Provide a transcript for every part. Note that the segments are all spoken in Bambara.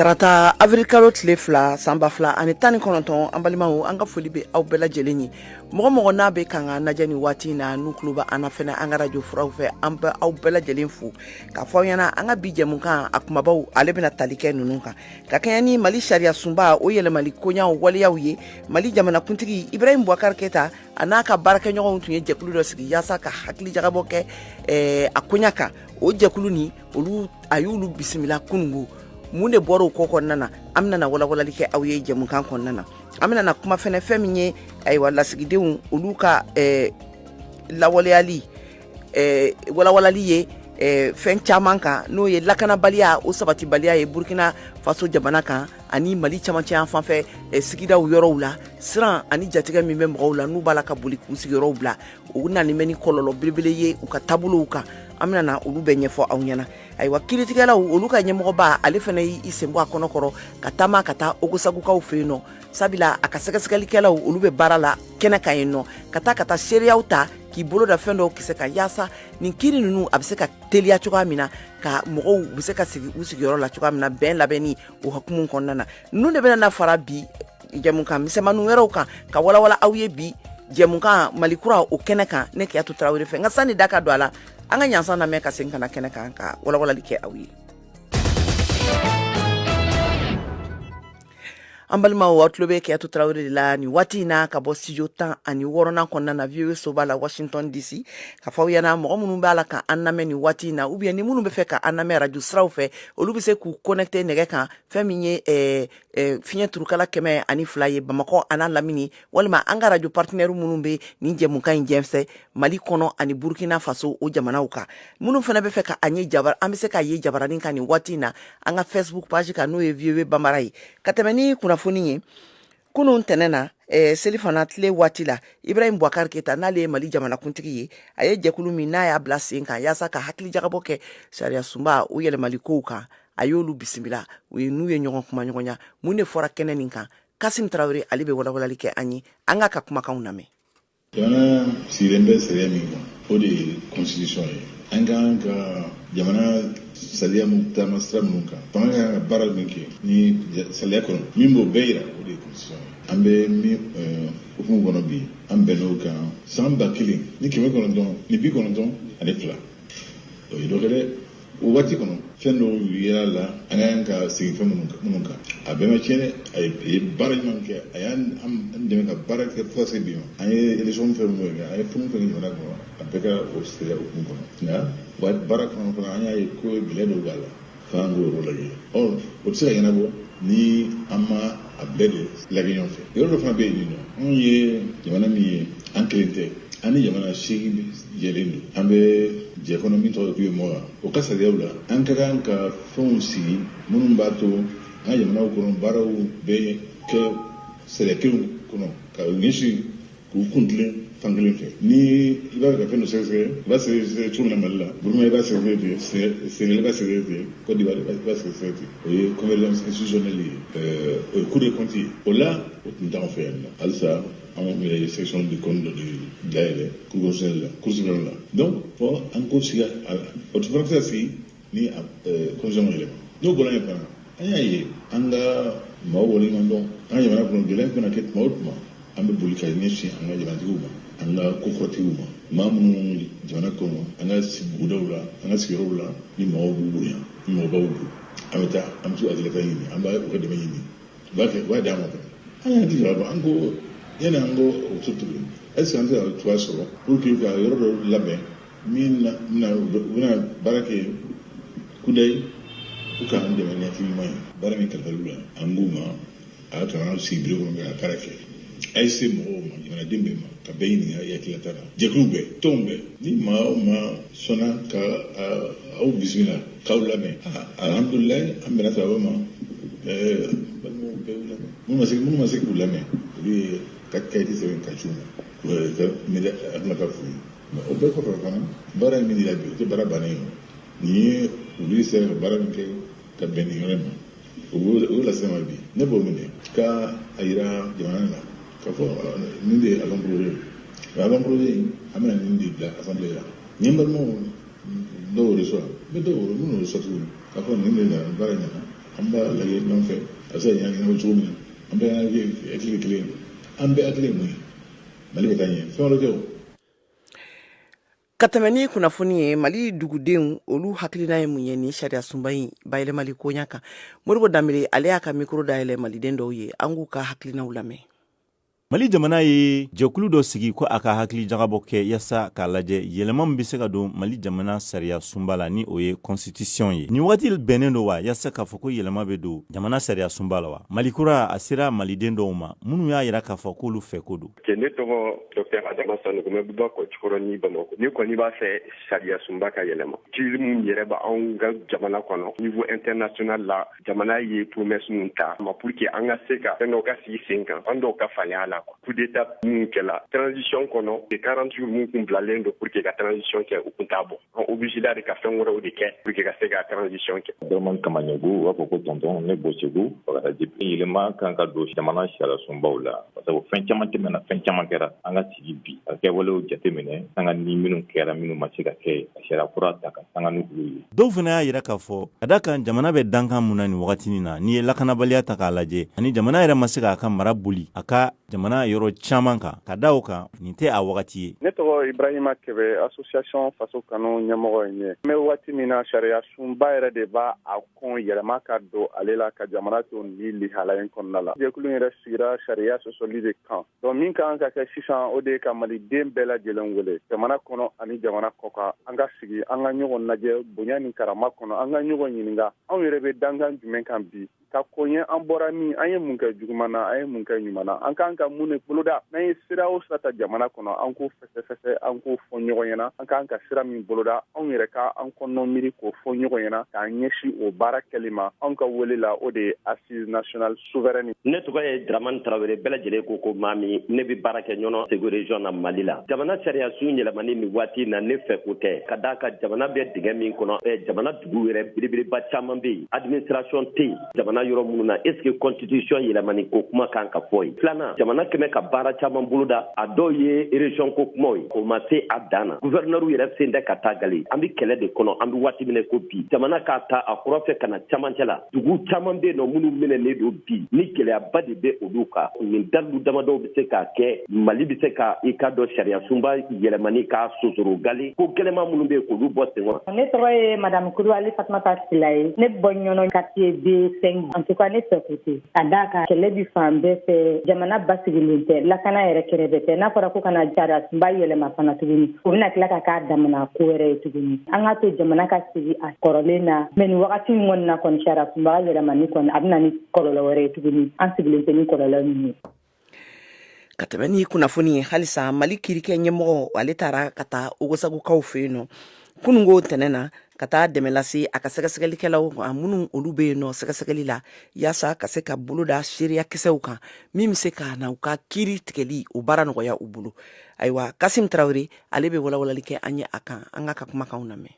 tarata abirilkalo tile fila sanba fila ani tan ni kɔnɔntɔn an balimaw an ka foli bɛ aw bɛɛ lajɛlen ye mɔgɔ mɔgɔ n'a bɛ kan k'an lajɛ ni waati in na n'u tulo bɛ an na fɛnɛ an ka radio furaw fɛ an bɛ aw bɛɛ lajɛlen fo k'a fɔ aw ɲɛna an ka bi jɛmukan a kumabaw ale bɛna tali kɛ ninnu kan ka kɛɲɛ ni mali sariya sunba o yɛlɛmali koɲaw waleyaw ye mali jamanakuntigi ibrahim bubakari keta a n'a ka baarakɛɲɔgɔnw tun ye jɛkulu dɔ sigi yaasa ka hakili jagabɔ kɛ eh, a koɲa kan o jɛkulu ni olu a y'olu bisimila kunungo mun de bɔra o ko kɔnɔna na an bɛna walawalali kɛ aw ye jɛmukan kɔnɔna na an bɛna kuma fɛnɛ fɛn min ye ayiwa lasigidenw olu ka eh, lawaleyali walawalali ye fɛn caman kan n'o ye lakanabaliya o sabatibaliya ye burukina faso jamana kan ani mali camancɛ yan fanfɛ sigida yɔrɔw la siran ani jatigɛ min bɛ mɔgɔw la n'u b'a la ka boli k'u sigiyɔrɔw bila u nani bɛ ni kɔlɔlɔ belebele ye u ka taabolo kan an bɛna olu bɛɛ ɲɛfɔ aw ɲɛna ayiwa kiritigɛlaw olu ka ɲɛmɔgɔba ale fana y'i sen bɔ a kɔnɔkɔrɔ ka taama ka taa ogosagukaw fɛ yen nɔ sabula a ka sɛgɛsɛgɛlikɛlaw olu bɛ baara la kɛnɛ kan yen nɔ ka taa ka taa seereyaw ta k'i bolo da fɛn dɔw kisɛ kan yaasa nin kiri ninnu a bɛ se ka teliya cogoya min na ka mɔgɔw bɛ se ka sigi u sigiyɔrɔ la cogoya min na bɛn labɛnni o hukumu kɔnɔna na ninnu de bɛna na fara bi jɛmukan misɛnmani wɛrɛw kan ka walawala aw ye bi jɛmukan mali kura o kɛnɛ kan ne kɛyatu tarawele fɛ nka sanni da ka don a la an ka ɲansan lamɛn ka segin ka na kɛnɛ kan ka walawalali kɛ aw ye an balimaw aw tulo bɛ kɛyatu tarawele de la ni waati in na ka bɔ studio tan ani wɔɔrɔnan kɔnɔna na VOA soba la Washington DC k'a fɔ aw ɲɛna mɔgɔ minnu b'a la ka an lamɛn ni waati in na ou bien ni minnu bɛ fɛ ka an lamɛn radio siraw fɛ olu bɛ se k'u connecter nɛgɛ kan fɛn min ye fiɲɛ turukala kɛmɛ ani fila ye bamakɔ a n'a lamini walima an ka radio partenaires minnu bɛ nin jɛmukan in jɛnsɛ Mali kɔnɔ ani Burkina Faso o jamanaw kan minnu fana bɛ fɛ ka an ye jabar an bɛ se k'a ye jabaranin kan nin waati in na an ka Facebook page kan n'o ye VOA Bambara ye ka tɛmɛ ni kunnafoni ye kunun tɛnɛn na eh, selifana tile waati la ibrahim bubakar keta n'ale ye mali jamanakuntigi ye a ye jɛkulu min n'a y'a bila sen kan yaasa ka hakilijagabɔ kɛ sariya sunba o yɛlɛmali kow kan a y'olu bisimila u ye n'u ye ɲɔgɔn kuma ɲɔgɔnya mun de fɔra kɛnɛ nin kan kasim tarawele ale bɛ walawalali kɛ an ye an k'a ka kumakanw lamɛn jamana sigilen bɛ sariya min kan o de ye constitution ye an ka kan ka jamana sariya min taama sira minnu kan fanga ka kan ka baara min kɛ ni sariya kɔnɔ min b'o bɛɛ yira o de ye constitution ye an bɛ min eh, hukumu kɔnɔ bi an bɛnn'o kan san ba kelen ni kɛmɛ kɔnɔntɔn ni bi kɔnɔntɔn ani fila o ye dɔ kɛ dɛ o waati kɔnɔ fɛn dɔw yera a la an ka kan ka segin fɛn minnu kan a bɛɛ ma tiɲɛ dɛ a ye baara ɲuman kɛ a y'an dɛmɛ ka baara kɛ fo ka se bi ma an ye élection fɛn minnu kɛ an ye fɛn fɛn kɛ jamana kɔnɔ a bɛɛ kɛra o sariya hukumu kɔnɔ nka wa baara kɔnɔ fana an y'a ye ko gɛlɛya dɔw b'a la f'an k'o yɔrɔ lajɛ ɔ o tɛ se ka ɲɛnabɔ ni an ma a bɛɛ de lajɛ ɲɔgɔn fɛ yɔrɔ dɔ fana bɛ yen nin nɔ anw ye jamana min ye an kelen tɛ an ni jamana seegin jɛlen don an bɛ jɛ kɔnɔ min tɔgɔ ko uemoa o ka sariyaw la an ka kan ka fɛnw sigi minnu b'a to an ka jamanaw kɔnɔ baaraw bɛ kɛ sariya kelenw kɔnɔ ka ɲɛsin k'u kun tilen fan kelen fɛ ni i b'a fɛ ka fɛn dɔ sɛgɛsɛgɛ i b'a sɛgɛsɛgɛ cogo min na mali la burukina i b'a sɛgɛsɛgɛ ten senegal i b'a sɛgɛsɛgɛ ten cote d'ivoire i b'a sɛgɛsɛgɛ ten o ye convergence institutionnelle ye o ye cour des comptes ye o la o tun t'anw fɛ yan nɔ halisa anw yɛrɛ ye section des comptes dɔ de dayɛlɛ cour constitutionnelle la cour suprême la donc fo an k'o sigi a la o dun fana tɛ se ka sigi ni constitution ma yɛlɛma n'o bɔra yen fana an y'a ye an ka maaw waleɲuman dɔn an ka jamana kɔnɔ gɛlɛya kana kɛ tuma o tuma an bɛ boli ka ɲɛsin an ka jamanatigiw ma an ka kokɔrɔtigiw ma maa minnu jamana kɔnɔ an ka bugudaw la an ka sigiyɔrɔw la ni mɔgɔw b'u bonya ni mɔgɔbaw don an bɛ taa an bɛ t'u hakilila ta ɲini an bɛ u ka dɛmɛ ɲini u b'a kɛ u b'a di an ma fana an y'an ti jɔyɔrɔ an ko yanni an k'o to tuguni est-ce que an tɛ ka cogoya sɔrɔ pour que ka yɔrɔ dɔ labɛn min na na u bɛ- u bɛna baara kɛ kudayi u ka an dɛmɛ ni hakili ɲuman ye baara min kalifara u la an k'u ma a kana sigi biro kɔnɔ ka baara kɛ a ye se mɔgɔw ma jamanaden bɛɛ ma ka bɛɛ ɲininka i hakilila ta la jɛkuluw bɛɛ tɔnw bɛɛ ni maa o maa sɔnna ka a- aw bisimila k'aw lamɛn a- alhamdulilayi an bɛna sɔrɔ aw ma ɛɛ balimaw bɛɛ y'u lamɛn minnu ma se minnu ma se k'u lamɛn olu y'u ka kayiti sɛbɛn ka ci u ma ɛɛ ka mɛlɛ hakilila ka f'u ye o bɛɛ kɔfɛ fana baara in min dira bi o tɛ baara bannen ye nin ye olu sera ka baara min kɛ ka bɛn nin yɔrɔ ma u y'o lase n ma bi ne b'o minɛ ka a yira jamana la k'a fɔ nin de ye avant-projet ye nka avant-projet in an bɛna nin de bila assemblée la n ye n balimaw dɔw yɛrɛ sɔrɔ n bɛ dɔw yɛrɛ minnu yɛrɛ sɔrɔ tuguni k'a fɔ nin de nana baara in nana an b'a lajɛ ɲɔgɔn fɛ a bɛ se ka ɲɛnabɔ cogo min na an bɛɛ y'an hakili kelen ye an bɛɛ hakili ye mun ye mali bɛ taa ɲɛ fɛn wɛrɛ tɛ o ka tɛmɛ ni kunnafoni ye mali dugudenw olu hakilina ye mun ye ni sariya sunba in bayɛlɛmali koɲa kan modibo danbele ale y'a ka mikro dayɛlɛ maliden dɔw ye an k'u ka hakilinaw lamɛn mali jamana ye jɛkulu dɔ sigi ko a ka hakili jagabɔ kɛ yasa k'a lajɛ yɛlɛma min be se ka don mali jamana sariya sunba la ni o ye kɔnsitisiyɔn ye nin wagati bɛnnen don wa yasa k'a fɔ ko yɛlɛma be don jamana sariya sunba la wa mali kura a sera maliden dɔw ma minnu y'a yira k'a fɔ k'olu fɛ ko don kɛ ne tɔgɔ dɔktɛr adama sanɔgɔ n bɛ bɔ bakɔ jikɔrɔni bamakɔ ne kɔni b'a fɛ sariya sunba ka yɛlɛma crise min yɛrɛ b'anw ka jamana kɔnɔ niveau international la jamana ye promesse min ta ma pour que an ka se ka fɛn dɔw ka sigi sen kan an dɔw ka faleya la coup d'état min kɛla transition kɔnɔ de 40 jours min kun bilalen don pour que ka transition kɛ o kun t'a bɔ an obligéla de ka fɛn wɛrɛw de kɛ pour que ka se ka transition kɛ dramani kamaɲɛgu u b'a fɔ ko tɔntɔn ne bɔ segu bagadaji yɛlɛma kan ka don jamana sariyasunbaw la sabu fɛn caman tɛmɛna fɛn caman kɛra an ka sigi bi ka kɛwalew jateminɛ sanga ni minnu kɛra minnu ma se ka kɛ ka sariya kura ta ka sanga ni olu ye dɔw fana y'a yira k'a fɔ ka d'a kan jamana bɛ dankan min na nin wagati nin na n'i ye lakanabaliya ta k'a lajɛ ani jamana yɛrɛ ma se k'a ka mara boli a ka jamana yɔrɔ caman kan ka da o kan nin tɛ a wagati ye ne tɔgɔ ibrahima kɛbɛ association faso kanu ɲɛmɔgɔ ye an bɛ waati min na sariya sunba yɛrɛ de b'a kɔn yɛlɛma ka don ale la ka jamana to nin lihala in kɔnɔna la jɛkulu yɛrɛ sigira sariya sɔsɔli de kan donc min ka kan ka kɛ sisan o de ye ka maliden bɛɛ lajɛlen wele jamana kɔnɔ ani jamana kɔ kan an ka sigi an ka ɲɔgɔn lajɛ bonya ni karama kɔnɔ an ka ɲɔgɔn ɲininka anw yɛrɛ bɛ dankan jumɛn kan bi ka ko ye an bɔra min an ye mun kɛ juguman na an ye mun kɛ ɲuman na an kan ka mun de boloda n'an ye sira o sira ta jamana kɔnɔ an k'o fɛsɛfɛsɛ an k'o fɔ ɲɔgɔn ɲɛna an kan ka sira min boloda anw yɛrɛ ka an kɔnɔ miiri k'o fɔ ɲɔgɔn ɲɛna k'an ɲɛsin o baara kɛli ma anw ka wele la o de ye assise nationale souveraine ne tɔgɔ ye dramani tarawele bɛɛ lajɛlen ko ko mami ne bɛ baara kɛ ɲɔnɔ segu region na mali la jamana sariyasun yɛlɛmani nin waati na ne fɛ ko tɛ ka d'a kan jamana bɛ dingɛ min kɔnɔ eh, jamana dugu yɛrɛ belebeleba caman bɛ yen administration tɛ yen jamana yɔrɔ minnu na est ce que constitution yɛlɛmani ko kuma kan ka fɔ yen filanan jamana kun bɛ ka baara caman boloda a dɔw ye region ko kumaw ye o ma se a dan na gouverneur yɛrɛ sen tɛ ka taa gale an bɛ kɛlɛ de kɔnɔ an bɛ waati min n'i ko bi jamana k'a ta a kɔrɔn fɛ ka na camancɛ la dugu caman bɛ yen nɔ minnu minɛlen don bi ni gɛlɛyaba de bɛ olu kan nin dalilu damadɔw bɛ se k'a kɛ mali bɛ se ka i k'a dɔn sariyasunba yɛlɛmani k'a sosoro gale ko gɛlɛman minnu bɛ yen k'olu bɔ sen kɔrɔ ne tɔgɔ ye madamu kulubali fatumata sila ye ne bɔ ɲɔnɔ quartier b5 en tout cas ne fɛ ko tɛ ka d'a kan kɛlɛ bɛ fan bɛɛ fɛ jamana basigilen tɛ lakana yɛrɛ kɛrɛfɛ tɛ n'a fɔra ko ka na sariyasunba yɛlɛma fana tuguni o bɛna tila ka k'a damana ko wɛrɛ ye tuguni an k'a to jamana ka sigi a kɔrɔlen na mais nin wagati nin kɔni na kɔni sariyasunba yɛlɛmani kɔni a bɛ na ni kɔlɔlɔ wɛrɛ ye tuguni an sigilen tɛ ni kɔlɔlɔ min ye ka tɛmɛ ni kunnafoni ye halisa mali kiiriko ɲɛmɔgɔ ale taara ka taa ogosagukaw fɛ yen nɔ kunun ko tɛnɛn na ka taa dɛmɛ lase a ka sɛgɛsɛgɛlikɛlaw ma minnu olu bɛ yen nɔ sɛgɛsɛgɛli la yaasa ka se ka boloda seereya kisɛw kan min bɛ se ka na u ka kiiri tigɛli o baara nɔgɔya u bolo ayiwa kasim tarawele ale bɛ walawalali kɛ an ye a kan an k'a ka kumakanw lamɛn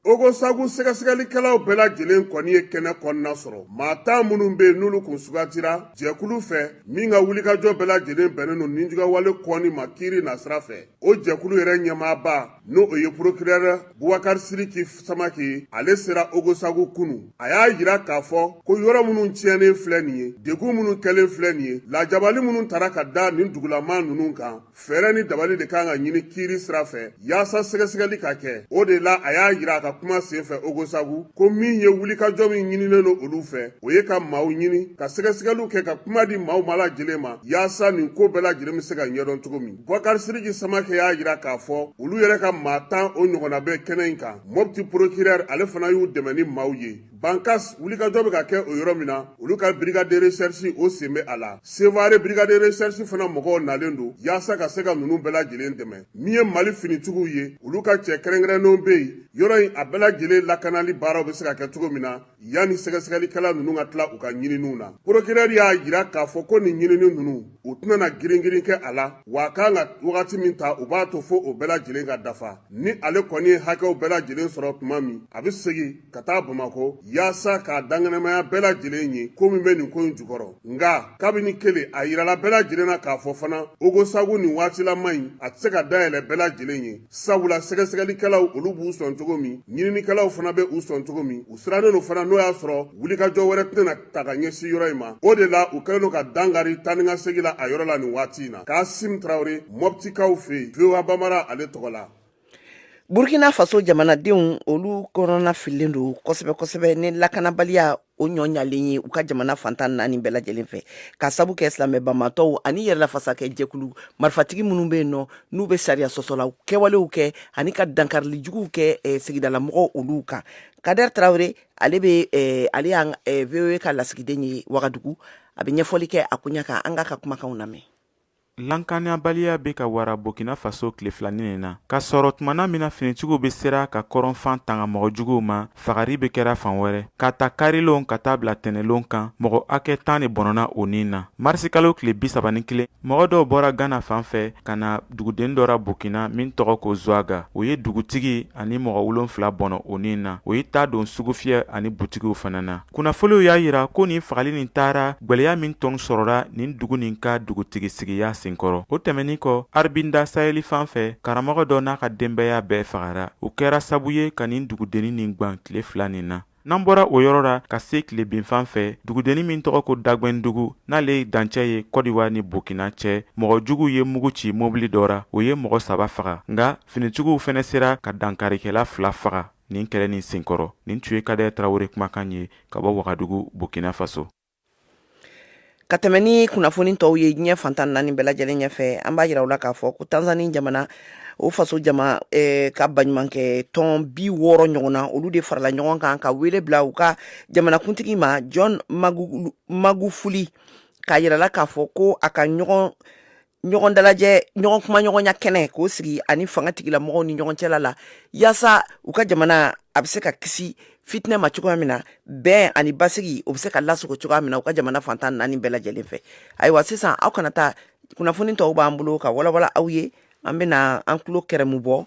ogosagu sɛgɛsɛgɛlikɛlaw bɛɛ lajɛlen kɔni ye kɛnɛ kɔnɔna sɔrɔ maa tan minnu bɛ yen n'olu kun sugantira jɛkulu fɛ min ka wulikajɔ bɛɛ lajɛlen bɛnnen don nijuguyawale kɔni ma kiiri nasira fɛ o jɛkulu yɛrɛ ɲɛmaaba n'o ye porokirɛrɛ bubakari siriki samakɛ ye ale sera ogosagu kunu a y'a yira k'a fɔ ko yɔrɔ minnu tiɲɛnen filɛ nin ye degun minnu kɛlen filɛ nin ye lajabali minnu tara ka da nin dugulamaa ninnu kan fɛɛrɛ ni dabali de kan ka ɲini kiiri sira fɛ yaasa sɛgɛsɛgɛli ka kɛ o de la a y'a yira a ka kuma senfɛ ogosagu ko min ye wulikajɔ min ɲininen don olu fɛ o ye ka maaw ɲini ka sɛgɛsɛgɛliw kɛ ka kuma di maaw ma lajɛlen ma yaasa nin ko bɛɛ lajɛlen bɛ se ka ɲɛdɔn cogo min bubakari siriki samakɛ y'a yira k'a fɔ olu yɛrɛ ka maa tan o ɲɔgɔnna bɛ kɛnɛ in kan mɔpti porokirɛri ale fana y'u dɛmɛ ni maaw ye bankas wulikajɔ bɛ ka kɛ o yɔrɔ min na olu ka brigade de recherche o sen bɛ a la sevare brigade de recherche fana mɔgɔw nalen don yaasa ka se ka ninnu bɛɛ lajɛlen dɛmɛ min ye mali finitigiw ye olu ka cɛ kɛrɛnkɛrɛnnenw bɛ yen yɔrɔ in a bɛɛ lajɛlen lakanali baaraw bɛ se ka kɛ cogo min na yanni sɛgɛsɛgɛlikɛla ninnu ka tila u ka ɲininiw na procureur y'a yira k'a fɔ ko nin ɲinini ninnu u tɛna na giringirin kɛ a la wa a kan ka wagati min ta u b'a to fo o bɛɛ lajɛlen ka dafa ni ale kɔni ye hakɛw bɛɛ lajɛlen sɔrɔ tuma min a bɛ segin ka taa bamakɔ yaasa k'a dankɛnɛmaya bɛɛ lajɛlen ye ko min bɛ nin ko in jukɔrɔ nka kabini kelen a yirala bɛɛ lajɛlen na k'a fɔ fana ogosagu nin waatilama in a tɛ se ka dayɛlɛ bɛɛ lajɛlen ye sabula sɛgɛsɛgɛlikɛlaw olu b'u sɔn cogo min ɲininikɛlaw fana bɛ u sɔn cogo min u sirannen don fana n'o y'a sɔrɔ wulikajɔ wɛrɛ tɛna ta ka ɲɛsin yɔrɔ in ma o de la u kɛlen don ka dankari taanikasegin la a yɔrɔ la nin waati in na kasim tarawele mɔptikaw fɛ yen voa bambara ale tɔgɔ la burukina faso jamanadenw olu kɔnɔnafililen don kosɛbɛ kosɛbɛ ni lakanabaliya o ɲɔɲalen ye u ka jamana fan tan naani bɛɛ lajɛlen fɛ ka sabu kɛ silamɛ banbaatɔw ani yɛrɛlafasakɛ jɛkulu marifatigi minnu bɛ yen nɔ n'u bɛ sariya sɔsɔla kɛwalew kɛ ani ka dankarili juguw kɛ eh, sigidalamɔgɔw olu kan kader tarawele ale bɛ eh, ale y'an eh, voa ka lasigiden ye wagadugu a bɛ ɲɛfɔli kɛ a koɲɛ kan an k'a ka kumakanw lamɛn Lankanabaliya bɛ ka wara Burkina Faso tile fila nin na, ka sɔrɔ tumana min na finitigiw bɛ sera ka kɔrɔnfan tanga mɔgɔ juguw ma, fagari bɛ kɛra fan wɛrɛ, k'a ta karilon ka taa bila tɛnɛlon kan, mɔgɔ hakɛ tan de bɔnɔna o ni na. Marisikalo tile bi saba ni kelen, mɔgɔ dɔw bɔra Gana fan fɛ ka na dugudennin dɔ ra Burkina min tɔgɔ ko Zuaga, o ye dugutigi ani mɔgɔ wolonfila bɔnɔ o ni na, o ye ta don sugufiyɛ ani butigiw fana na. kunnafoliw y'a yira ko nin fagali nin taara gwɛlɛya min tun sɔrɔra nin dugu nin ka dugutigisigiya senkɔrɔ o tɛmɛnin kɔ aribinda saheli fan fɛ karamɔgɔ dɔ n'a ka denbaya bɛɛ fagara o kɛra sabu ye ka nin dugudennin nin gwan tile fila nin na n'an bɔra o yɔrɔ la ka se tilebinfan fɛ dugudennin min tɔgɔ ko dagwɛndugu n'ale ye dancɛ ye kɔdiwa ni burkina cɛ mɔgɔ juguw ye mugu ci mobili dɔ ra o ye mɔgɔ saba faga nka finitigiw fɛnɛ sera ka dankarikɛla fila faga nin kɛlɛ ni senkɔrɔ nin tun ye kader tarawele kumakan ye ka bɔ wagadugu burkina faso ka tɛmɛ ni kunnafoni tɔw ye diɲɛ fantan naani bɛɛ lajɛlen ɲɛfɛ an b'a yira u la k'a fɔ ko tanzani jamana o faso jama eh, ka baɲumankɛ tɔn bi wɔɔrɔ ɲɔgɔn na olu de farala ɲɔgɔn kan ka wele bila u ka jamanakuntigi ma john magufuli k'a yira a la k'a fɔ ko a ka ɲɔgɔn ɲɔgɔn dalajɛ ɲɔgɔn kuma ɲɔgɔnya kɛnɛ k'o sigi a ni fanga tigila mɔgɔw ni ɲɔgɔn cɛla la yaasa u ka jamana a bɛ se ka kisi fitinɛ ma cogoya min na bɛn ani basigi o bɛ se ka lasago cogoya min na u ka jamana fantan naani bɛɛ lajɛlen fɛ ayiwa sisan aw kana taa kunnafoni tɔw b'an bolo ka walawala aw ye an bɛna an tulo kɛrɛmu bɔ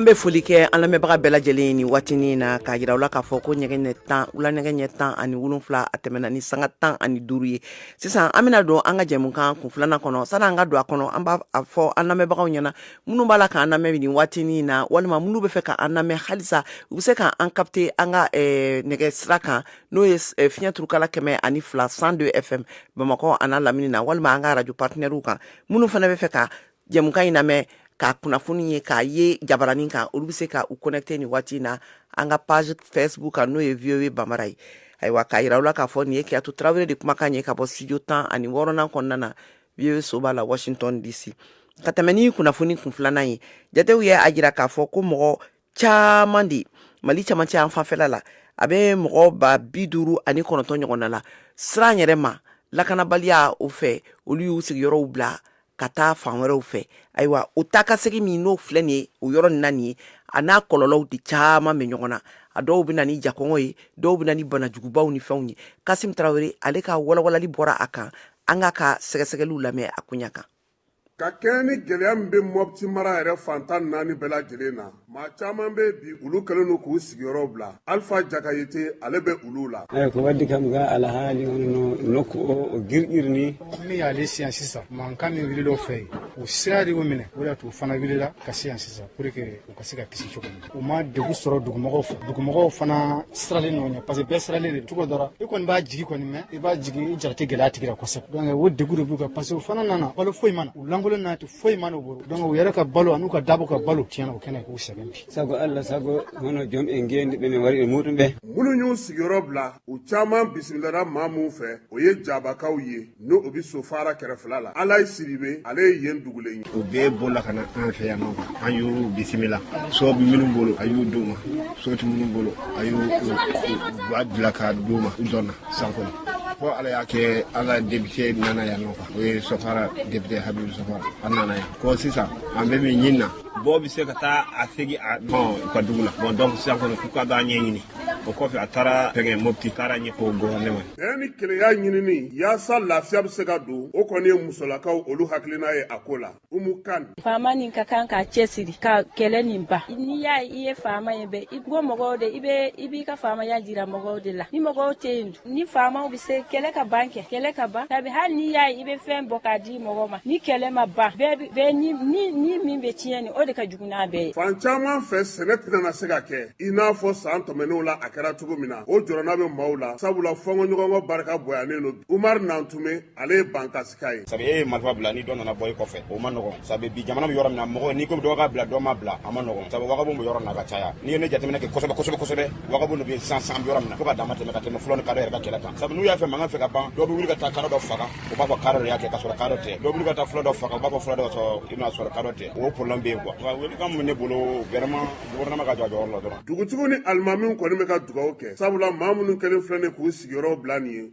An bɛ foli kɛ an lamɛnbaga bɛɛ lajɛlen ye nin waatinin na k'a yira u la k'a fɔ ko nɛgɛ tan wula nɛgɛ ɲɛ tan ani wolonwula a tɛmɛna ni sanga tan ani duuru ye sisan an bɛna don an ka jɛmukan kun filanan kɔnɔ sani an ka don a kɔnɔ an b'a fɔ an lamɛnbagaw ɲɛna minnu b'a la k'an lamɛn nin waatinin in na walima minnu bɛ fɛ k'an lamɛn halisa u bɛ se k'an kapte an ka eh, nɛgɛ sira kan n'o ye eh, fiɲɛ turukala kɛmɛ ani fila cent deux fm bamakɔ an'a lamini na walima an ka arajo patinɛriw kan minnu fana bɛ fɛ ka Jɛmukan in lamɛn ka kunnafoni ye k'a ye jabaranin kan olu bɛ se ka u connecter nin waati in na an ka page facebook kan n'o ye voa bambara ye ayiwa k'a jira u la k'a fɔ nin ye kajatu tarawele de kumakan ye ka bɔ studio tan ani wɔɔrɔnan kɔnɔna na voa soba la washington dc ka tɛmɛ ni kunnafoni kun filanan ye jatew ye a jira k'a fɔ ko mɔgɔ caman de mali camancɛ yanfan fɛla la a bɛ mɔgɔ ba bi duuru ani kɔnɔntɔn ɲɔgɔn na la siran yɛrɛ ma lakanabaliya o fɛ olu y'u sigiyɔrɔw bila ka taa fan wɛrɛw fɛ ayiwa o takasegin min n'o filɛ nin ye o yɔrɔ nin na nin ye a n'a kɔlɔlɔw de caman bɛ ɲɔgɔn na a dɔw bɛ na ni jakɔngɔ ye dɔw bɛ na ni banajugubaw ni fɛnw ye kasimu tarawele ale ka walawalali bɔra a kan an k'a ka sɛgɛsɛgɛliw lamɛn a koɲa kan ka kɛɲɛ ni gɛlɛya min bɛ mɔti mara yɛrɛ fantan naani bɛɛ lajɛlen na maa caman bɛ bi olu kɛlen don k'u sigiyɔrɔ bila alifa jakayite ale bɛ olu la ayi ko wadi kam ga alahali no no ko o girgirini min y'ale se yan sisan mankan min wulila u fɛ yen o siran de y'u minɛ o de y'a to u fana wulila ka se yan sisan pour que u ka se ka kisi cogo min u ma degun sɔrɔ dugumɔgɔw fɛ dugumɔgɔw fana siralen don u ɲɛ parce que bɛɛ siralen de cogo dɔ la i kɔni b'a jigi kɔni mɛn i b'a jigi i jara tɛ gɛlɛya tigi la kosɛbɛ donc o degun de b'u kan parce que u fana nana balo foyi ma na u lankolon n'a tɛ foyi ma n'u bolo donc u yɛrɛ ka balo an'u ka dabaw ka balo tiɲɛna o kɛnɛ k'u sɛgɛn bi sago alla sago hono joom en ngendi ɓe ne wari e muɗum ɓe minnu y'u sigiyɔrɔ bila u caman bisimilara maa minw fɛ o ye jabakaw ye ni o bi sofara kɛrɛfɛla la alayi sidibe ale ye yen dugulen ye u bɛɛ bolila ka na an fɛ yan nɔ an y'u bisimila so minnu bolo a y'u d'u ma so ti minnu bolo a y'u b'a bila ka d'u ma u dɔnna san kɔnɔ fo ala y'a kɛ an ka depite nana yan nɔ o ye sofara depite habibu sofara a nana yan ko sisan an bɛ min ɲini na bɔ bɛ se ka taa a segi aw ka dugu la bon donc sisan kɔni k'u ka d'a ɲɛɲini o kɔfɛ a taara fɛngɛ mopti taara ɲɛfɔ gouvernement bɛn ni kelenya ɲinini yaasa lafiya bɛ se ka don o kɔni ye musolakaw olu hakilina ye a ko la umu kan faama nin ka kan k'a cɛsiri ka kɛlɛ nin ban n'i y'a ye i ye faama ye bɛ i bɔ mɔgɔw de i bɛ i b'i ka faamaya jira mɔgɔw de la ni mɔgɔw tɛ yen dun ni faamaw bɛ se kɛlɛ ka ban kɛ kɛlɛ ka ban sabi hali n'i y'a ye i bɛ fɛn bɔ k'a di mɔgɔ ma ni kɛlɛ ma ban bɛɛ bi- bɛɛ ni ni ni min bɛ tiɲɛ nin o de ka jugu n'a bɛɛ ye fan caman fɛ sɛnɛ tɛna se ka kɛ i n'a fɔ san tɛmɛnenw la a kɛra cogo min na o jɔrɔna bɛ maaw la sabula fɔnkɔɲɔgɔnkɔ barika bonyalen don umar nantume ale ye bankasika ye sabu e ye marifa bila ni dɔ nana bɔ i kɔfɛ o ma nɔgɔn sabu bi jamana bɛ yɔrɔ min na mɔgɔ n'i ko dɔ ka bila dɔ ma bila a ma nɔgɔn sabu wagabon bɛ yɔrɔ na ka caya n'i ye nin jateminɛ kɛ kosɛbɛ kosɛbɛ kosɛbɛ wagabon de bɛ sisan an bɛ yɔrɔ min na fo ka dama tɛmɛ ka tɛmɛ fula ni kadɔ yɛrɛ ka kɛlɛ kan sabu n'u y'a fɔ mankan bɛ ka ban dɔ bɛ wuli ka taa kadɔ dɔ faga u b'a fɔ kadɔ de y'a kɛ ka sɔrɔ kadɔ tɛ dɔ bɛ wuli ka taa fula dɔ faga u b'a fɔ fula don ka sɔrɔ i b'a sɔrɔ kadɔ tɛ o problème bɛ yen quoi wa welekan min ne bolo vraiment gouvernement ka jɔ a jɔyɔrɔ la dɔrɔn dugutigiw ni alimamiw kɔni bɛ ka dugawu kɛ sabula maa minnu kɛlen filɛ nin k'u sigiyɔrɔw bila nin ye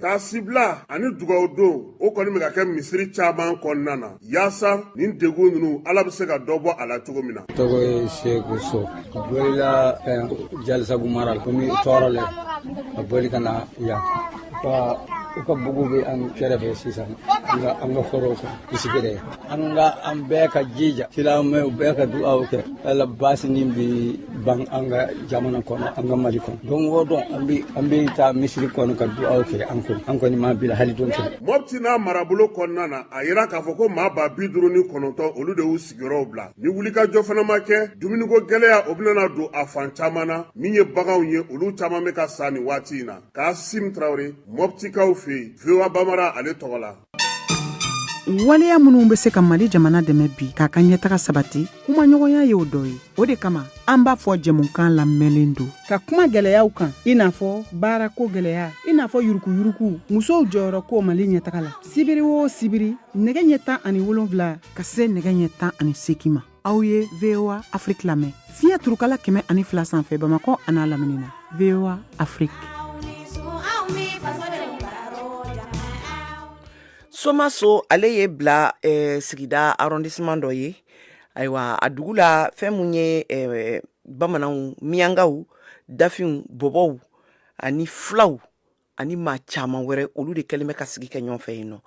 Taasibila ani dugaw don o kɔni bɛ ka kɛ misiri caman kɔnɔna na yaasa nin degun ninnu ala bɛ se ka dɔ bɔ a la cogo min na tɔgɔ ye seku so bolila jalasagu mara la komi tɔɔrɔ lɛ a boli ka na yan u ka buguw bɛ an kɛrɛfɛ sisan an ka forow kan bisigere an ka an bɛɛ ka jija silamɛw bɛɛ ka dugaw kɛ ala baasi nin bi ban an ka jamana kɔnɔ an ka mali kɔnɔ don o don an bi an bi taa misiri kɔnɔ ka dugaw kɛ an kɔni an kɔni ma bila hali don kelen mopti n'a marabolo kɔnɔna na a yira k'a fɔ ko maa ba bi duuru ni kɔnɔntɔn olu de y'u sigiyɔrɔw bila ni wulikajɔ fana ma kɛ dumuniko gɛlɛya o bɛna don a fan caman na min ye baganw ye olu caman bɛ ka sa nin waati in na kasim tarawele moptikaw fɛ yen voa bambara ale tɔgɔ la waleya minnu bɛ se ka mali jamana dɛmɛ bi k'a ka ɲɛtaga sabati kumaɲɔgɔnya y'o dɔ ye o de kama an b'a fɔ jɛmukan labɛnlen don ka kuma gɛlɛyaw kan i n'a fɔ baarako gɛlɛya i n'a fɔ yuruguyurugu musow jɔyɔrɔ ko mali ɲɛtaga la sibiri o sibiri nɛgɛ ɲɛ tan ani wolonwula ka se nɛgɛ ɲɛ tan ani segin ma aw ye voa afrik lamɛn fiɲɛ turukala kɛmɛ ani fila sanfɛ bamakɔ an'a lamini na voa afrik somaso ale ye bila eh, sigida arrondissement dɔ ye ayiwa a dugu la fɛn mun ye eh, bamananw miyangaw dafinw bɔbɔw ani filaw ani maa caman wɛrɛ olu de kɛlen bɛ ka sigi kɛ ɲɔgɔn fɛ yen nɔ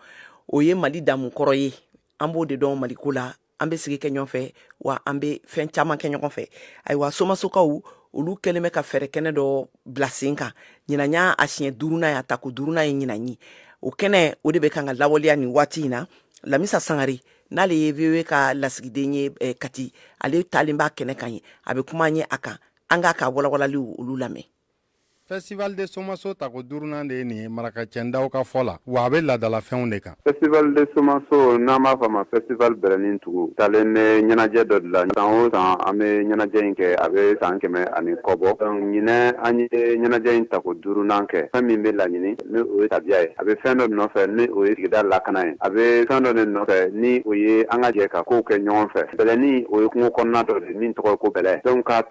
o ye mali damu kɔrɔ ye an b'o de dɔn maliko la an be sigi kɛ ɲɔgɔn fɛ wa an be fɛn caman kɛ ɲɔgɔn fɛ ayiwa somasokaw olu kɛlen bɛ ka fɛɛrɛ kɛnɛ dɔ bila sen kan ɲinan y'a a siɲɛ duurunan y'a tako duurunan ye ɲinan ye o kɛnɛ o de bɛ kan ka lawaleya nin waati in na lamisa sangare n'ale ye voa ka lasigiden ye eh, kati ale taalen b'a kɛnɛ kan yen a bɛ kuma an ye a kan an k'a ka walawalaliw olu lamɛn Festival de somaso tako duurunan de ye nin ye marakacɛ dawo ka fɔ la wa a bɛ laadalafɛnw de kan festival de somaso n'an b'a fɔ ma festival bɛlɛnin tugu talen bɛ ɲɛnajɛ dɔ de la san o san an bɛ ɲɛnajɛ in kɛ a bɛ san kɛmɛ ani kɔ bɔ ɲinɛn an ye ɲɛnajɛ in tako duurunan kɛ fɛn min bɛ laɲini ni o ye tabiya ye a bɛ fɛn dɔ nɔfɛ ni o ye sigida lakana ye a bɛ fɛn dɔ de nɔfɛ ni o ye an ka jɛ ka kow kɛ ɲɔgɔn fɛ bɛlɛnin o ye kungo kɔnɔna dɔ de min tɔgɔ ko bɛlɛ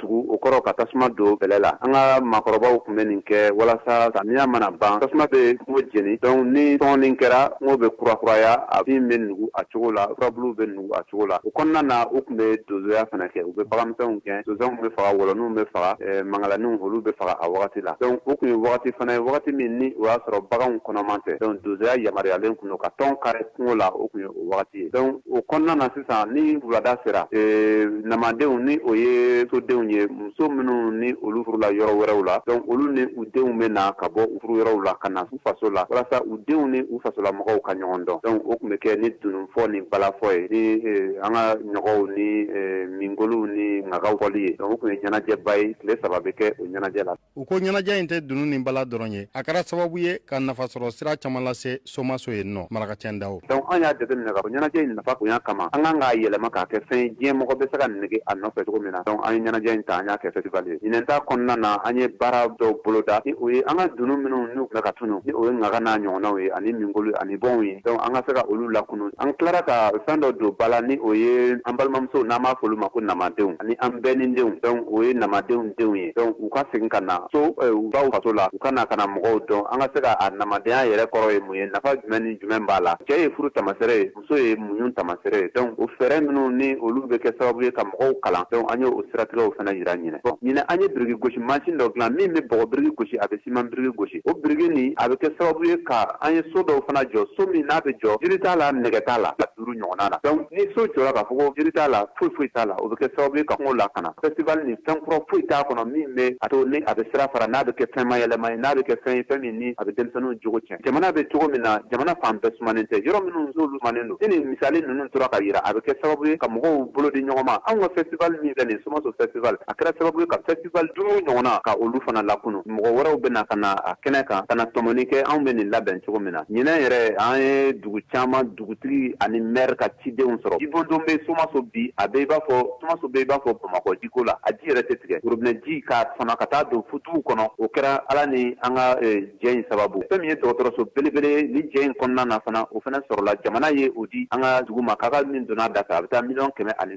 tugu o kɔrɔ ka tasuma don bɛlɛ la an ka maakɔrɔbaw tun bɛ nin kɛ walasa samiya mana ban tasuma bɛ kungo jeni donc ni sɔɔni kɛra kungo bɛ kurakuraya a bin bɛ nugu a cogo la furabuluw bɛ nugu a cogo la o kɔnɔna na u tun bɛ donsoya fana kɛ u bɛ baganmisɛnw gɛn sonsanw bɛ faga wɔlɔninw bɛ faga eh, mangalaniw olu bɛ faga a wagati la donc o tun ye wagati fana ye wagati min ni o y'a sɔrɔ baganw kɔnɔman tɛ donc donsoya yamaruyalen tun don ka tɔn kari kungo la o tun ye o wagati ye donc o kɔnɔna na sisan ni wulada sera ee, namadenw ni o ye sodenw ye muso minnu ni olu furula yɔrɔ wɛrɛw la donc olu ni u denw bɛ na ka bɔ u furu yɔrɔw la ka na u faso la walasa u denw ni u fasolamɔgɔw ka ɲɔgɔn dɔn donc o tun bɛ kɛ ni dununfɔ ni balafɔ ye ni ee, an ka ɲɔgɔw ni ee, mingolow ni ŋagaw fɔli ye donc o tun ye ɲɛnajɛba ye tile saba bɛ kɛ o ɲɛnajɛ la u ko ɲɛnajɛ in tɛ dunu ni bala dɔrɔn ye a kɛra sababu ye ka nafasɔrɔ sira caman lase somaso yen nɔ marakacɛ dawo donc an y'a jateminɛ ka fɔ ɲɛnajɛ in nafa bonya kama an kan k'a yɛlɛma k'a kɛ fɛn ye diɲɛ mɔgɔ bɛ se ka nege a nɔfɛ cogo min na donc an ye ɲɛnajɛ in ta an y'a kɛ festival ye ɲinɛn ta kɔnɔna na an ye baara dɔw boloda ni o ye an ka dunu minnu n'u tun bɛ ka tunu ni o ye ŋaga n'a ɲɔgɔnnaw ye ani minkolo ani bɔnw ye donc an ka se ka olu lakunu an tilara ka fɛn dɔ don bala ni o ye an balimamusow n'an b'a fɔ olu ma ko namadenw ani an bɛnnindenw donc o ye namadenw denw ye donc u ka segin ka na so u baw faso la u ka na ka na mɔgɔw dɔn an ka se ka a namadenya yɛrɛ kɔrɔ ye mun ye nafa jumɛn ni jumɛn b'a la cɛ ye furu tamasɛre ye muso ye muɲu tamasɛre ye donc o fɛɛrɛ minnu ni olu bɛ kɛ sababu ye ka mɔgɔw kalan donc an ye o siratigɛw fana yira ɲinɛn bon ɲinɛn an ye biriki gosi mansin dɔ dilan min bɛ bɔgɔ biriki gosi a bɛ siman biriki gosi o biriki nin a bɛ kɛ sababu ye ka an ye so dɔw fana jɔ so min n'a bɛ jɔ jiri t'a la nɛgɛ t'a la duuru ɲɔgɔn na donc ni so jɔra k'a fɔ ko jiri t'a la foyi foyi t'a la o bɛ kɛ sababu ye ka kungo lakana festival ni fɛn kura foyi t'a kɔnɔ min bɛ a to ni a bɛ sira fara n'a bɛ kɛ fɛn mayɛlɛma ye n'a bɛ kɛ fɛn ye fɛn min ni a bɛ denmisɛnninw jogo tiɲɛ jamana bɛ cogo min na jamana fan bɛɛ sumanen tɛ yɔrɔ minnu n'olu sumanen don ni nin misali ninnu tora ka jira a bɛ kɛ sababu ye ka mɔgɔw bolo di ɲɔgɔn ma anw ka festival min filɛ nin somaso festival a kɛra sababu ye ka festival duuru ɲɔgɔn na ka olu fana lakunun mɔgɔ wɛrɛw bɛ na ka na a kɛnɛ kan ka na tɔmɔni kɛ anw bɛ nin labɛn cogo min na ɲinan yɛrɛ an ye dugu caman dugutigi ani mɛri ka cidenw sɔrɔ jibondon bɛ somaso bi a bɛ i b'a fɔ somaso bɛ i b'a fɔ bamakɔ jiko la a ji yɛrɛ tɛ tigɛ robinɛji ka fana ka taa don futuw kɔnɔ o kɛra ala ni an ka jɛ in sababu fɛn min ye dɔgɔtɔrɔso belebele ni jɛ in kɔnɔna na fana o fana sɔrɔla jamana ye o di an ka dugu ma ka ka min donna a da fɛ a bɛ taa miliyɔn kɛmɛ ani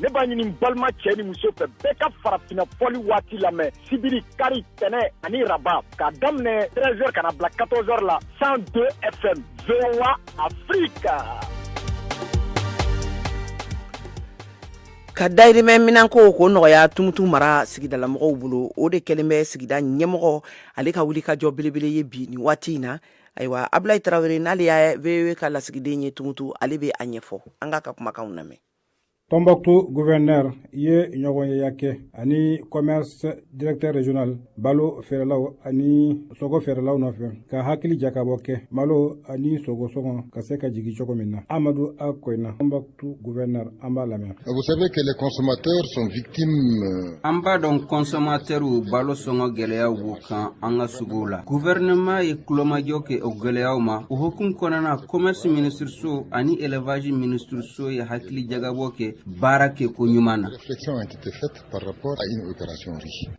ne b'a ɲini balima cɛ ni muso fɛ bɛɛ ka farafina fɔli waati lamɛn sibiri kari tɛnɛ ani raba k'a daminɛ 13 heures ka na bila 14 heures la 102 fm voa afrika ka dayirimɛ minanko k'o nɔgɔya tumutu mara sigidalamɔgɔw bolo o de kɛlen bɛ sigida ɲɛmɔgɔ ale ka wulikajɔ belebele ye bi nin waati in na ayiwa abulayi tarawele n'ale ye voa ka lasigiden ye tumutu ale bɛ a ɲɛfɔ an k'a ka kumakanw lamɛn Tombouctou gouverneur ye ɲɔgɔnyeya kɛ ani commerce directeur régional balo feerelaw ani sogo feerelaw nɔfɛ ka hakili jakabɔ kɛ malo ani sogo sɔngɔ ka se ka jigi cogo min na amadu a koyina Tombouctou gouverneur an b'a lamɛn ah, vous savez que les consommateurs sont victimes euh, an b'a dɔn consommateurs balo sɔngɔ gɛlɛyaw b'u kan an ka suguw la gouvernement ye tulomajɔ kɛ o gɛlɛyaw ma o hukumu kɔnɔna commerce ministre so ani élevage ministre so ye hakili jagabɔ kɛ baara kɛ ko ɲuman na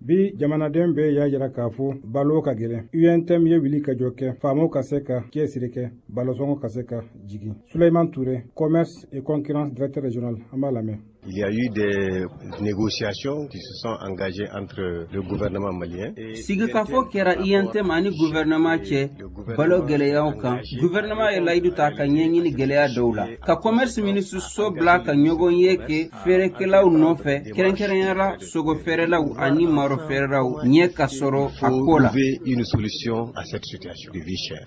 bi jamanaden bɛɛ y'a jira k'a fɔ balo ka gɛlɛn untm ye wulikajɔ kɛ faamaw ka se ka cɛsiri kɛ balosɔngɔ ka se ka jigin suleiman ture commerce et concurrence directeur régional an b'a lamɛn Il y a eu des négociations qui se sont engagées entre le gouvernement malien et... Sigikafo kɛra UNTM ani gouvernement cɛ balo gɛlɛyaw kan guvɛrɛnɛma ye layidu ta ka ɲɛɲini gɛlɛya dɔw la ka kɔmɛrisi minisiriso bila ka ɲɔgɔnye kɛ feerekɛlaw nɔfɛ kɛrɛnkɛrɛnyara sogo feerelaw ani maro feerelaw ɲɛ ka sɔrɔ a ko la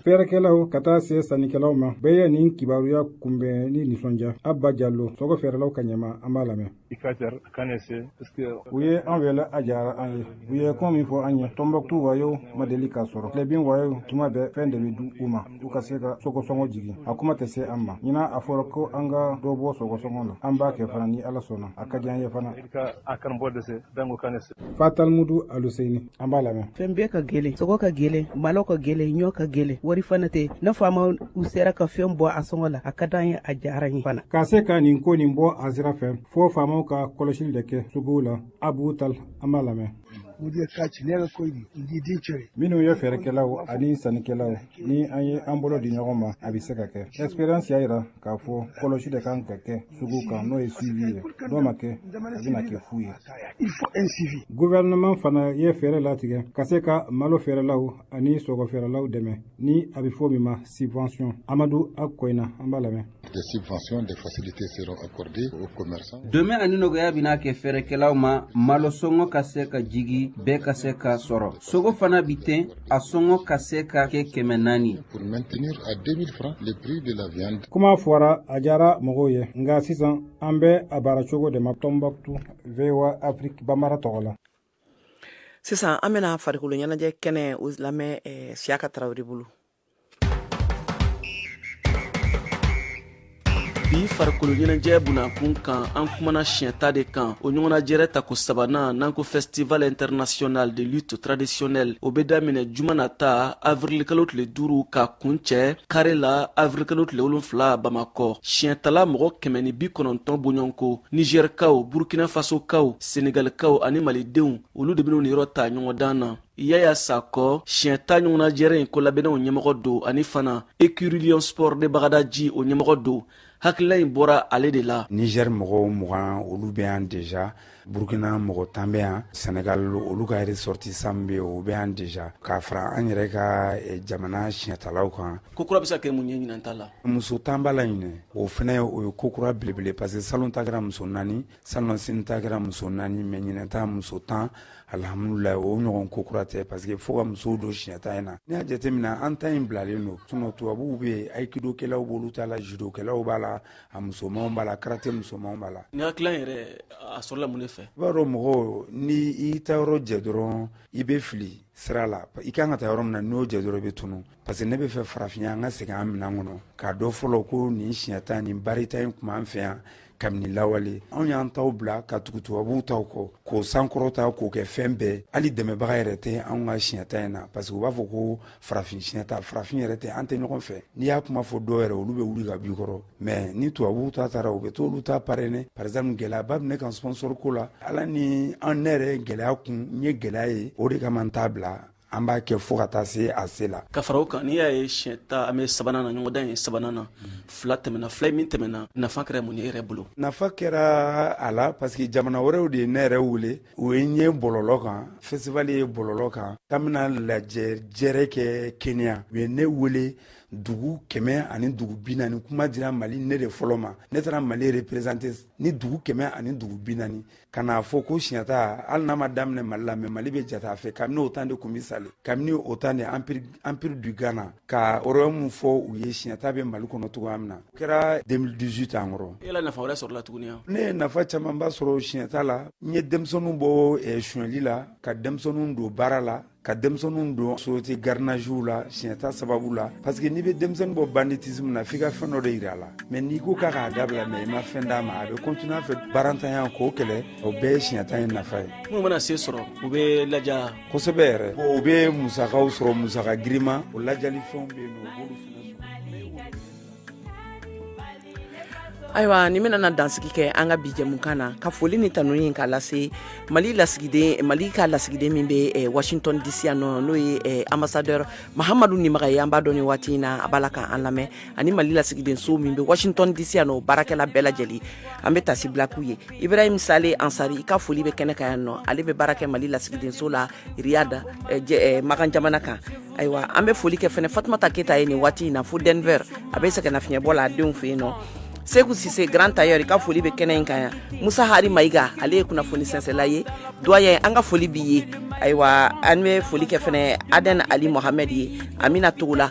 feerekɛlaw ka taa se sannikɛlaw ma bɛɛ ye nin kibaruya kunbɛn ni nisɔndiya abba jalo sogo feerelaw ka ɲɛmaa an b'a lamɛn i ka jar kane se paske u ye an wele a diyara an ye u ye kuma min fɔ an ye tɔnbɔkutu wayew ma deli k'a sɔrɔ tilebin wayew tuma bɛɛ fɛn de bɛ di u ma u ka se ka sogosɔngɔ jigin a kuma tɛ se an ma ɲinan a fɔra ko an ka dɔ bɔ sogosɔngɔ na an b'a kɛ fana ni ala sɔnna a ka di an ye fana a kanbɔ dɛsɛ dango kane se fatalmudu aluseini an b'a lamɛn fɛn bɛɛ ka gɛlɛn sogo ka gɛlɛn malo ka gɛlɛn ɲɔ ka gɛlɛn wari fana tɛ ni faamaw sera ka fɛn bɔ a sɔngɔ la a ka d'an ye a diyara n ye fana ka se ka nin ko nin bɔ a sira fɛ fo faamaw ka kɔlɔsili de kɛ suguw la abu tal an b'a lamɛn mudiya kaci ne ko di di cere minnu ye feerekɛlaw ani sannikɛlaw ni an ye an bolo di ɲɔgɔn ma a bɛ se ka kɛ experience y'a jira k'a fɔ kɔlɔsi de kan ka kɛ sugu kan n'o ye suivi ye n'o ma kɛ a bɛna kɛ fu ye gouvernement fana ye fɛɛrɛ latigɛ ka se ka malo feerelaw ani sogo feerelaw dɛmɛ ni a bɛ fɔ min ma subvention amadu akoyina an b'a lamɛn des subventions, des facilités seront accordées aux commerçants. Dɛmɛ ani nɔgɔya bɛna kɛ feerekɛlaw ma malo sɔngɔ ka se ka jigi bɛɛ ka se k'a sɔrɔ. Sogo fana bi ten a sɔngɔ ka se ka kɛ kɛmɛ naani kuma fɔra a diyara mɔgɔw ye nka sisan an bɛ a baara cogo de ma tɔnbukutu voa afrique bambara tɔgɔ la sisan an bɛna farikolo ɲɛnajɛ kɛnɛ o lamɛn eh, siyaka tarawele bolo bi farikolo ɲɛnajɛ bunakun kan an kumana siɲɛta de kan o ɲɔgɔnnajɛrɛ tako sabanan n'an ko festival international de lutte traditionnelle o bɛ daminɛ juma nata avirilikalo tile duru ka kuncɛ kari la avirilikalo tile wolonfila bamakɔ siɲɛtala mɔgɔ kɛmɛ ni bi kɔnɔntɔn bɔɲɔnko nizɛrikaw burkina fasokaw senegalikaw ani malidenw olu de bɛn'u niyɔrɔ ta ɲɔgɔndan na yaya sakɔ siɲɛta ɲɔgɔnnajɛrɛ in kolabɛnnaw ɲɛmɔgɔ don ani fana ecurie lion sport de bagadaji o ɲɛmɔgɔ don hakilila in bɔra ale de la niger mɔgɔw mugan olu bɛ yan deja burkina mɔgɔ tan bɛ yan senegal olu ka ressortissants bɛ o bɛ yan deja k'a fara an yɛrɛ ka eh, jamana siɲɛtalaw kan ko kura bɛ se ka kɛ mun ye ɲinan ta la muso tan b'a la ɲinɛ o fɛnɛ o ye ko kura belebele parce que salon ta kɛra muso naani Salonnasini ta kɛra muso 4 ye mais ɲinɛ ta muso 10 alhamdulahi o ɲɔgɔn ko kura tɛ parce que fo ka musow don siɲɛta in na n'i y'a jateminɛ an ta in bilalen don sinon tubabuw bɛ yen aikido kɛlaw b'olu ta la judo kɛlaw b'a la a musomanw b'a la karate musomanw b'a la nin hakilila yɛrɛ a sɔrɔla mun de fɛ i b'a dɔn mɔgɔ ni i taa yɔrɔ jɛ dɔrɔn i bɛ fili sira la i kan ka taa yɔrɔ min na n'o jɛ dɔrɔn i bɛ tunu Parce que ne b'a fɛ farafinya an ka segin an minɛn kɔnɔ k'a dɔn fɔlɔ ko nin siɲɛta ni baarita in tun b'an fɛ yan kabini lawale anw y'an taw bila ka tugu tubabuw taw kɔ k'o sankɔrɔta k'o kɛ fɛn bɛɛ hali dɛmɛbaga yɛrɛ tɛ anw ka siɲɛta in na parce que u b'a fɔ ko farafin siɲɛta farafin yɛrɛ tɛ an tɛ ɲɔgɔn fɛ n'i y'a kuma fɔ dɔw yɛrɛ olu bɛ wuli ka b'i kɔrɔ mais ni tubabuw ta taara u bɛ t'olu ta parrainer par exemple gɛlɛyaba bɛ ne kan sponsor ko la ala ni an ne yɛrɛ gɛlɛya kun n ye gɛlɛya ye o de kama n t'a bila an b'a kɛ fo ka taa se a se la ka fara o kan n'i y'a ye siɲɛta an bɛ sabanan na ɲɔgɔndan ye sabanan na fila tɛmɛna fila min tɛmɛna nafa kɛra mun ye yɛrɛ bolo nafa kɛra a la parce que jamana wɛrɛw de ye ne yɛrɛ wele u ye n ye bɔlɔlɔ kan festival ye bɔlɔlɔ kan k'an bɛna lajɛ jɛrɛ kɛ kenya u ye ne wele dugu kɛmɛ ani dugu bi naani kuma dira mali ne de fɔlɔ ma ne taara mali représenter ni dugu kɛmɛ ani dugu bi naani ka n'a fɔ ko siɲɛta hali n'a ma daminɛ mali la mais mali bɛ jate a fɛ kabini au temps de kumbi sale kabini au temps de empire du ghana ka o royaume fɔ u ye siɲɛta bɛ mali kɔnɔ cogoya min na o kɛra 2018 an kɔrɔ yala nafa wɛrɛ sɔrɔla tuguni wa ne ye nafa camanba sɔrɔ siɲɛta la n ye denmisɛnninw bɔ eh, suɲɛli la ka denmisɛnninw don baara la ka denmisɛnninw don société gardiennagew la siɲɛta sababu la parce que n'i bɛ denmisɛnnin bɔ banditisme na f'i ka fɛn dɔ de yira a la mais n'i ko k'a k'a dabila mais i ma fɛn d'a ma a bɛ continuer a fɛ baarantanya k'o kɛlɛ o bɛɛ ye siɲɛta in nafa ye minnu mana se sɔrɔ u bɛ laja kosɛbɛ yɛrɛ u bɛ musakaw sɔrɔ musaka girinma o lajali fɛnw bɛ yen nɔ u b'olu fana ayiwa ne bɛna na dansigi kɛ an ka bi jɛmukan na ka foli ni tanuni ka lase mali lasigiden mali ka lasigiden min bɛ eh, washington dc yan nɔ n'o ye eh, ambassadeur mahamadu nimaga ye an b'a dɔn nin waati in na a b'a la ka an lamɛn ani mali lasigiden so min bɛ washington dc yan nɔ baarakɛla bɛɛ lajɛlen an bɛ taasibila k'u ye ibrahim sale ansari i ka foli bɛ kɛnɛ kan yan nɔ ale bɛ baara kɛ mali lasigiden so la riyad eh, makan jamana kan ayiwa an bɛ foli kɛ fɛnɛ fatumata keyita ye nin waati in na fo denver a bɛ sɛgɛnnafiɲɛbɔ la a denw fɛ yen nɔ seku sise grand tailleur i ka foli bɛ kɛnɛ in kan yan musa hari mayiga ale ye kunnafoni sɛnsɛla ye doyen an ka foli b'i ye ayiwa an bɛ foli kɛ fɛnɛ aden ali mohamɛd ye amina togola